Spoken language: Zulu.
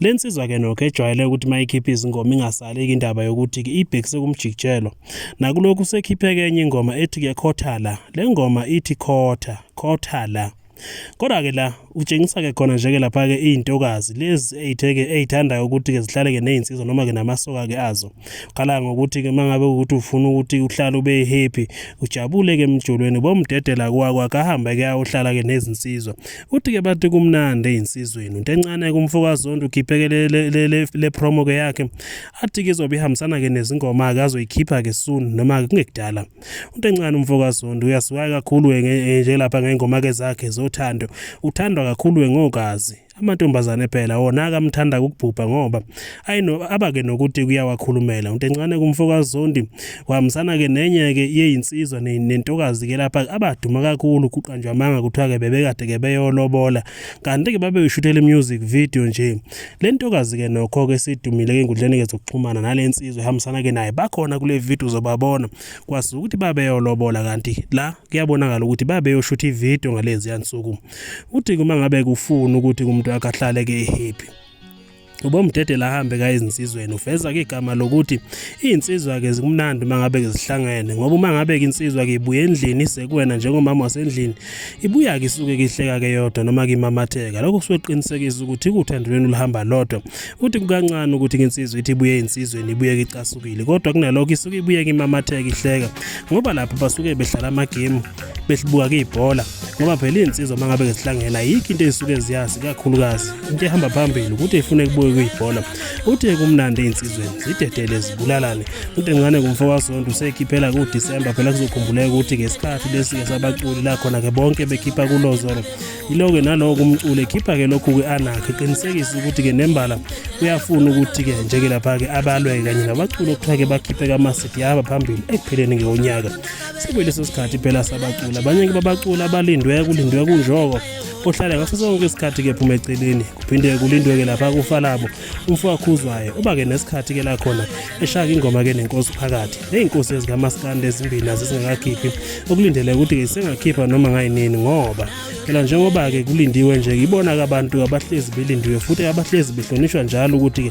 Le nsizwa-ke nokho ejwayele ukuthi uma ikhipha izingoma ingasaleki indaba yokuthi ibhekise kumjikijelo. Nakulokhu sekhipheke enye ingoma ethi kuyakhothala. Le ngoma ithi khotha, khothala. Kodwa-ke la utshengisa-ke khona nje-ke lapha-ke iy'ntokazi lezi ey'theke ey'thandayo ukuthi-ke zihlale-ke ney'nsizwa noma-ke namasoka-ke azo. Ukhala ngokuthi-ke uma ngabe ukuthi ufuna ukuthi uhlale ube happy, ujabule-ke emjolweni, bomdedela kwakho akahambe-ke ayohlala-ke nezinsizwa. uthi ke bathi kumnandi eyinsizweni into encane kumfokazondo ukhipheke le promo ke yakhe athi ke izobe ihambisana ke nezingoma ake azoyikhipha ke soon noma kungekudala into encane umfokazondo uyasiwaya kakhulu eh, nje lapha ngengoma ke zakhe zothando uthandwa kakhulu ngogazi amantombazane phela wona akamthanda ukubhubha ngoba ayi no abake nokuthi kuyawakhulumela untencane kumfokazondi wahambisana ke nenye ke yeyinsizwa nentokazi ke lapha abaduma kakhulu kuqanjwa amanga kuthiwa ke bebekade ke beyolobola kanti ke babe ushuthele music video nje le ntokazi ke nokho ke sidumile ke ngudlene ke zokuxhumana nale nsizwa ehambisana ke naye bakhona kule video zobabona kwasuka ukuthi babeyolobola kanti la kuyabonakala ukuthi babeyoshutha ivideo ngalezi yansuku uthi uma ngabe kufuna ukuthi umuntu akahlale ke happy ubomdedela ahambe ka izinsizweni uveza ke igama lokuthi izinsizwa ke zikumnandi uma ngabe ke zihlangene ngoba uma ngabe ke insizwa ke ibuye endlini sekuwena njengomama wasendlini ibuya ke isuke ke ihleka ke yodwa noma ke imamatheka lokho kusuke kuqinisekisa ukuthi uthando lwenu luhamba lodwa uthi kukancane ukuthi ke insizwa ithi ibuye insizweni ibuye ke icasukile kodwa kunalokho isuke ibuye ke imamatheka ihleka ngoba lapho basuke behlala ama game behlibuka ke ibhola ngoba phela iy'nsizwa uma ngabe zihlangena yikho into ey'suke ziyazi kakhulukazi into ehamba phambili ukuthi ifune kubuye kuyibhola uthe kumnandi ey'nsizweni zidedele zibulalane udencane kumfo wasonto useyikhiphela kudisemba phela kuzokhumbuleka ukuthi ngesikhathi lesi-ke sabaculi la khona-ke bonke bekhipha kulozoro yilo-ke nalowo kumculi ekhipha-ke lokhu-ke anakhe qinisekise ukuthi-ke nembala uyafuna ukuthi-ke njeke lapha-ke abalwe-ke kanye nabaculi okuthiwa-ke bakhiphe kamasidi yahamba phambili ekupheleni ngewonyaka sekuyileso sikhathi phela sabacula abanye ke babacula abalindwe kulindwe kunjoko ohlala ngaso sonke isikhathi ke phuma eceleni kuphinde kulindwe ke lapha kufa labo umfo wakhuzwayo uba ke nesikhathi ke la khona eshaka ingoma ke nenkosi phakathi neyinkosi ezikamaskande ezimbili nazo zingakakhiphi okulindeleke ukuthi ke sengakhipha noma ngayinini ngoba phela njengoba ke kulindiwe nje ibona ke abantu abahlezi belindiwe futhi abahlezi behlonishwa njalo ukuthi ke